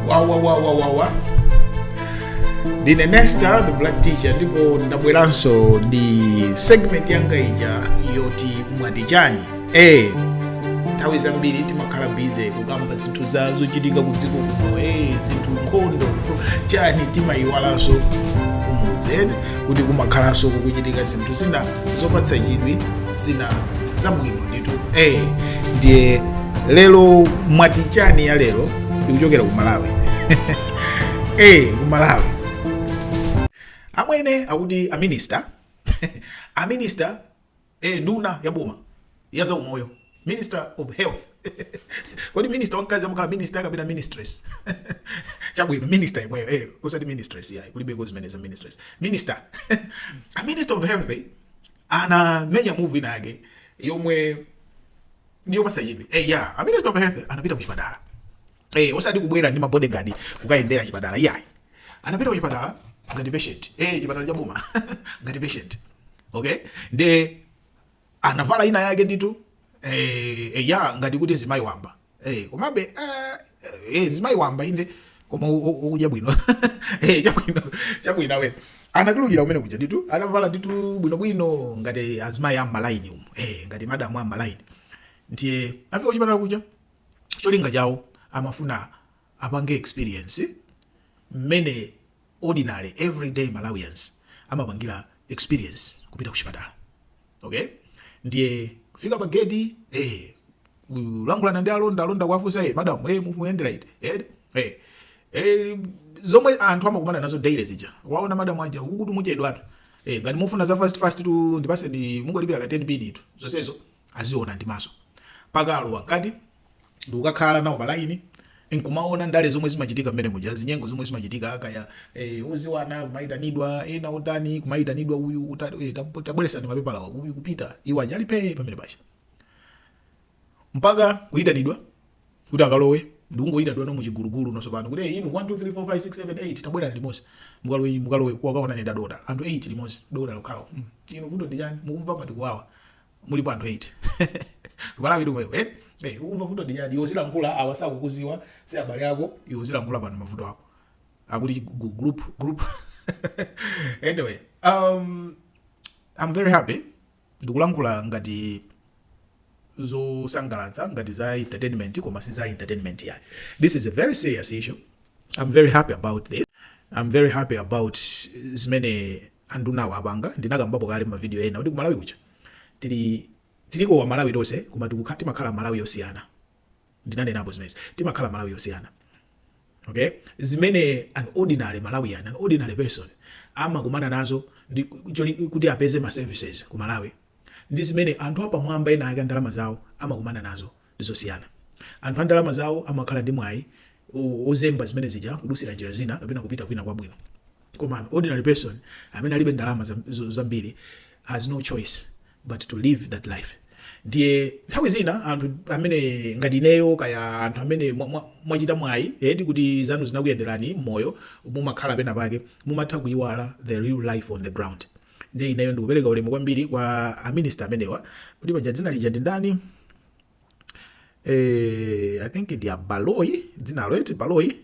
wawawawawawa ndine nesta the black teacher ndipo ndabweranso ndi segment yanga ija yoti mwati chani e nthawi zambiri timakhala busy kukamba zinthu za zochitika ku dziko kuno e zinthu nkhondo chani timayiwalanso kumudzi kuti kumakhalanso kukuchitika zinthu zina zopatsa chidwi zina zabwino hey, eh, ndiye lero mwati chani ya lero ikuchokera ku malawi hey, eh, ku malawi amwene akuti aminister aminister eh, nduna ya boma ya zaumoyo minister of health kodi minister wamkazi amakhala minister kapena ministress chabwino minister yemweyo eh, osati ministress yayi kulibeko zimenezo za ministress minister a minister of health eh? anamenya move ina yake yomwe ndiyopatsa chidwi eh ya a minister of health anapita ku chipatala eh osati kubwera ndi mabodyguard kukayendera chipatala yayi anapita ku chipatala ngati patient eh chipatala cha boma ngati patient okay nde anavala ina yake nditu eh, eh ya ngati kuti mzimayi wamba Eh, komabe eh, eh, mzimayi wamba inde koma u- u- ukudya bwino Eh, chabwino chabwino awe anatulukira kumene kuja nditu atavala nditu bwinobwino ngati azimayi a mmalaini umu eh, ngati madamu a mmalaini ndiye afike kuchipatala kuja cholinga chawo amafuna apange experience mmene ordinary every day Malawians amapangira experience kupita kuchipatala ok ndiye kufika pa gate eh kulankhulana ndi alonda alonda kuwafunsa eh madam eh muyendera iti eh eh eh zomwe anthu amakumana nazo daily zija waona madam aja akuti muchedwatu eh ngati mufuna za fast fast tu ndipatseni mungolipira ka 10 pin tu zonsezo aziona ndi maso pokalowa mkati ndikukakhala nawo pa line nkumaona ndale zomwe zimachitika mmene muja chinyengo zomwe zimachitika kaya e, odziwana kumaitanidwa ena otani kumaitanidwa uyu e, tabweretsa mapepala ako uyu kupita iwo aja ali pamene paja mpaka kuitanidwa kuti akalowe ndikungoitanidwano mu chigulugulu tsopano kuti hey, inu 1 2 3 4 5 6 7 8 tabwerani limodzi mukalowe mukalowe kukaonana ndi adotolo anthu 8 limodzi adotolo okhawo mm. inu vuto ndi chani mukumva pati kuwawa mulipo anthu 8 kumalawi komweko eti Hey, ukumva vuto ndi chani iwe uzilankhula awa sakukudziwa si abale ako iwe uzilankhula pano mavuto ako akuti gu- group group anyway um i'm very happy ndikulankhula ngati zosangalatsa ngati za entertainment koma si za entertainment yayi this is a very serious issue i'm very happy about this i'm very happy about zimene andunawo apanga ndinakambapo kale mma video ena kuti kumalawi kuja tili tiliko amalawi tose koma tikukhala timakhala amalawi yosiyana ndinanenapo zimezi timakhala amalawi yosiyana okay zimene an ordinary malawian an ordinary person amakumana nazo ndi kuti apeze ma services kumalawi ndi zimene anthu apamwamba ena ake ndalama zawo amakumana nazo ndi zosiyana. Anthu a ndalama zawo amakhala ndi mwayi wozemba zimene zija kudusira njira zina kapena kupita kwina kwabwino. Koma an ordinary person amene alibe ndalama zambiri has no choice but to live that life. Ndiye nthawi zina anthu amene ngati ineyo kaya anthu amene mwachita mwayi eti kuti zanu zinakuyenderani m'moyo mumakhala pena pake mumatha kuyiwala the real life on the ground. Ndiye ineyo ndikupereka ulemu kwambiri kwa a minister amenewa kuti paja dzina lija ndi ndani eh, I think ndi a Baloyi dzinalo eti Baloyi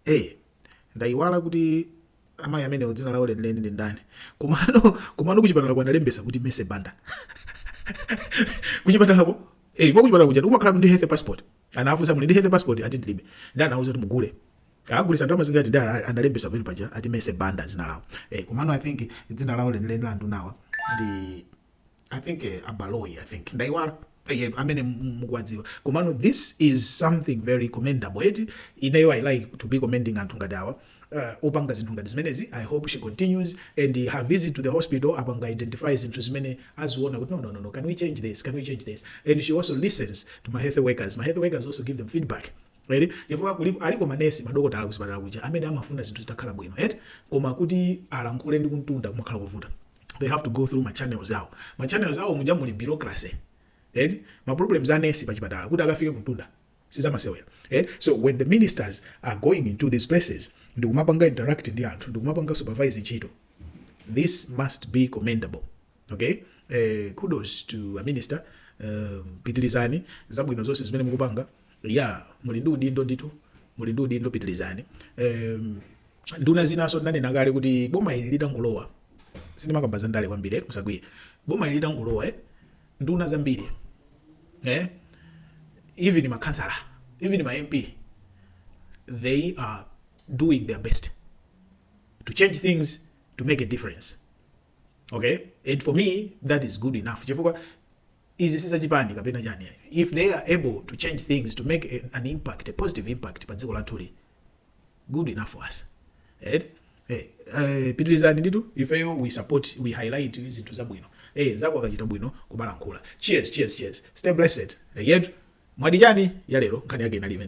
eh, ndaiwala kuti amayi amenewo dzina lawo lenileni ndi ndani komano komano kuchipatala kuja analembesa kuti Mercy Banda kuchipatalako eh, kwa kuchipatala kuja umakhala ndi health passport Anawafunsa muli ndi health passport ati ndilibe nde anawauza kuti mugule Akugulisa ndalama zingati nde analembesa pamene paja ati Mercy Banda dzina lawo eh komano i think dzina lawo lenileni la andunawa ndi i think abaloyi i think ndaiwala eh, amene mu- mukuwadziwa komano this is something very commendable eti ineyo i like to be commending anthu ngati awa uh, opanga zinthu ngati zimenezi i hope she continues and her visit to the hospital apanga identify zinthu zimene aziona kuti no, no, no, no, can we change this can we change this and she also listens to ma health workers ma health workers also give them feedback right chifukwa kuli- aliko manesi madokotala kuchipatala kuja amene amafuna zinthu zitakhala bwino eti koma kuti alankhule ndi kumtunda kumakhala kuvuta they have to go through machannels awo machannels awo muja muli bureaucracy right ma problems a nesi pachipatala kuti akafike kumtunda sizamasewera eh so when the ministers are going into these places ndikumapanga interact ndi anthu ndikumapanga supervise ntchito this must be commendable okay eh, kudos to a minister um, pitilizani zabwino zonse zimene mukupanga ya yeah, muli ndi udindo ndithu muli ndi udindo pitilizani um, nduna zinaso ndanena kale kuti boma ili litangolowa sindimakamba za ndale kwambiri eh, musakwiye boma ili litangolowa eh nduna zambiri eh even makhansala even ma mp they are doing their best to change things to make a difference okay and for me that is good enough chifukwa izi sizachipani kapena chani if they are able to change things to make a, an impact a positive impact pa dziko lathuli good enough for us eti eh, eh, pitilizani ndithu ifeyo we support we highlight zinthu zabwino eh, nzako akachita bwino kumalankhula cheers cheers cheers stay blessed eh, yet mwati chani ya lero nkhani yake inalive